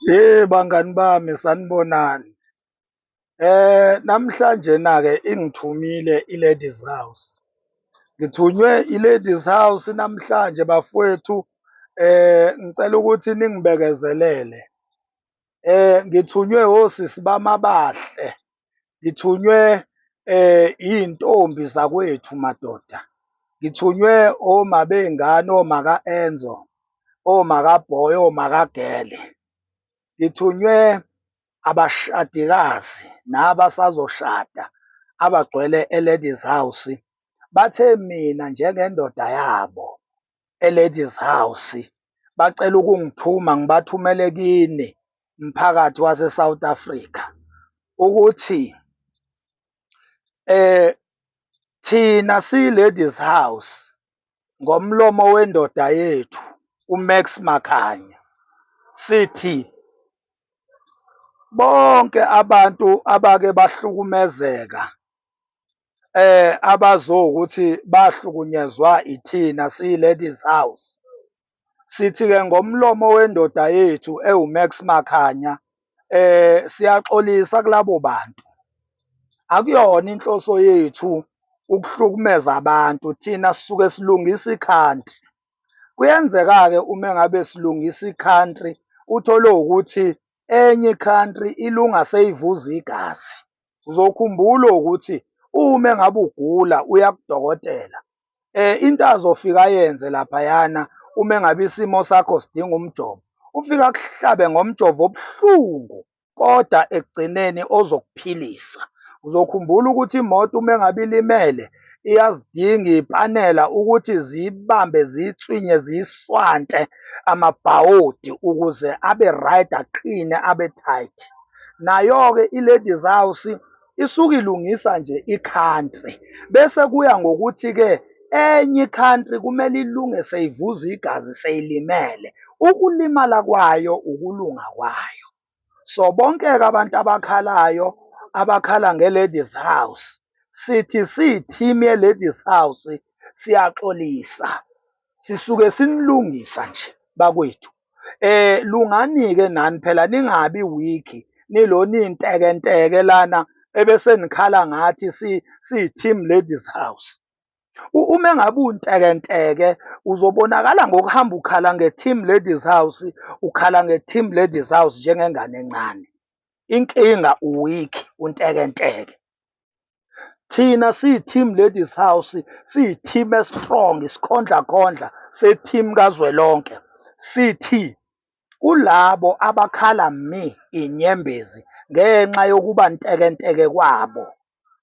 Hey bangani bami sanibonani. Eh namhlanje na ke ingithumile iLadies House. Ngithunywe iLadies House namhlanje bafowethu eh ngicela ukuthi ningibekezelele. Eh ngithunywe osisi bamabahle. ngithunywe um iy'ntombi zakwethu madoda, ngithunywe oma bey'ngane, oma ka-Enzo, oma ka-Boy, oma ka-Gele, ngithunywe abashadikazi nabasazoshada abagcwele e-Ladies House, bathe mina njengendoda yabo eLadies House bacela ukungithuma ngibathumele kini mphakathi waseSouth Africa ukuthi eh thina siyi-Ladies House ngomlomo wendoda yethu uMax Makhanya sithi bonke abantu abake bahlukumezeka eh abazokuthi bahlukunyezwa ithina siyi-ladies house sithi-ke ngomlomo wendoda yethu ewumax makhanya eh siyaxolisa kulabo bantu akuyona inhloso yethu ukuhlukumeza abantu thina sisuke silungisa i-country kuyenzeka-ke uma ngabe silungisa i-country uthole ukuthi enye i-country ilunga seyivuza igazi Uzokhumbula ukuthi uma engabe ugula uya kudokotela um into azofika ayenze laphayana uma engabe isimo sakho sidinga umjovo ufika akuhlabe ngomjovo obuhlungu kodwa ekugcineni ozokuphilisa uzokhumbula ukuthi imoto uma engabe ilimele iyazidinga ipanela ukuthi ziyibambe ziyitswinye ziyiswante amabhawodi ukuze abe right aqine abe tight nayo-ke i-Ladies House isuke ilungisa nje i-country bese kuya ngokuthi-ke enye i-country kumele ilunge seyivuza igazi seyilimele. Ukulimala kwayo ukulunga kwayo. So bonke-ke abantu abakhalayo abakhala nge-Ladies House sithi siyi-team ye-Ladies House siyaxolisa. sisuke sinilungisa nje bakwethu eh lungani-ke nani phela ningabi wiki nilo nintekenteke lana ebese nikhala ngathi si-team ladies house uma ngabe untekenteke uzobonakala ngokuhamba ukhala nge-team ladies house ukhala nge-team ladies house njengengane encane inkinga uwiki untekenteke thina siyi-team ladies house siyi-team estrong isikhondlakhondla se-team kazwelonke sithi kulabo abakhala mi inyembezi ngenxa yokuba ntekenteke kwabo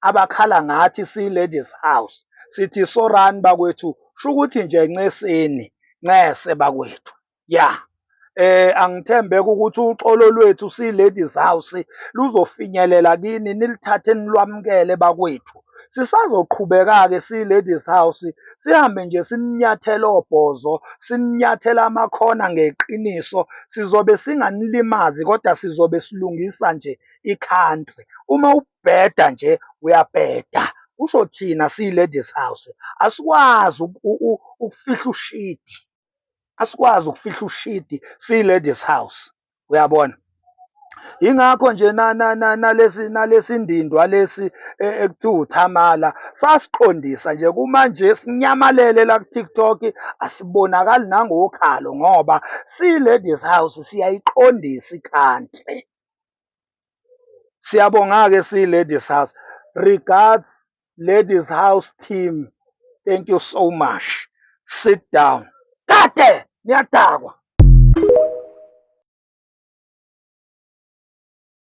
abakhala ngathi siyi-ladies house sithi sorani bakwethu shukuthi nje nceseni ncese bakwethu ya eh angithembeka ukuthi uxolo lwethu si ladies house luzofinyelela kini nilithathe nilwamukele bakwethu sisazoqhubeka-ke si-ladies house sihambe nje sininyathela obhozo sininyathela amakhona ngeqiniso sizobe singanilimazi kodwa sizobe silungisa nje i-country uma ubheda nje uyabheda kusho thina siyi-ladies house asikwazi ukufihla ushidi asikwazi ukufihla ushidi siyi-ladies house uyabona yingakho nje nalesi nalesi ndindwa lesi e, ekuthiwa uthamala sasiqondisa nje kumanje sinyamalele la ku-tiktok asibonakali nangokhalo ngoba siyi-ladies house siyayiqondisa ikhantle siyabonga-ke siyi-ladies house regards ladies house team thank you so much sit down kade niyadakwa